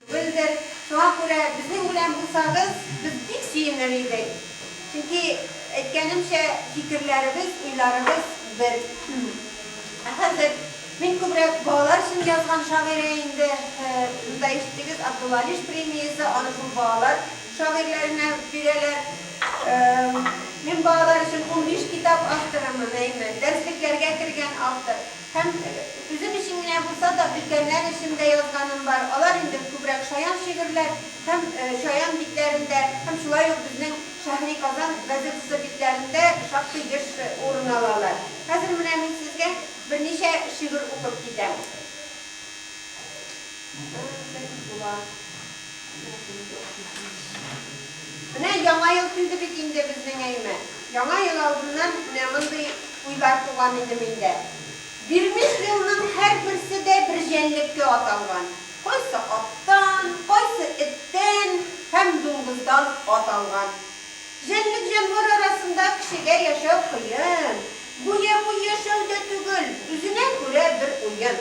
Гөлдер, шуңа күрә безнең белән булсагыз, без бик сөенер идек. Чөнки, әйткәнемчә, фикерләребез, уйларыбыз бер. Ә хәзер мин күбрәк балалар өчен язган шагыйрә инде. Монда ишеттегез, Абдулла Алиш премиясе, аны шул балалар шагыйрьләренә бирәләр. Мин балалар өчен унбиш китап авторымын, әйме, дәреслекләргә кергән автор. Һәм үзем өчен генә булса да, өлкәннәр өчен дә язганым бар. Алар инде күбрәк шаян шигырьләр һәм шаян битләрендә һәм шулай ук безнең Шәһри Казан газетасы битләрендә шактый еш урын алалар. Хәзер менә мин сезгә берничә шигырь укып китәм. Бер үк була. Менә яңа ел килде бит инде безнең әйме. Яңа ел алдыннан менә мондый уйлар туган иде миндә. Бирмеш елның һәрберсе дә бер җәнлеккә аталган. Кайсы аттан, кайсы эттән һәм дуңгыздан ат алган. Җәнлек-җанвар арасында кешегә яшәү кыен. Буе-буе яшәү дә түгел, үзенә күрә бер уен.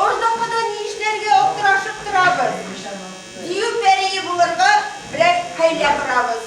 Уртакыда ни эшләргә аптырашып торабыз, дию пәрие булырга берәр хәйлә корабыз.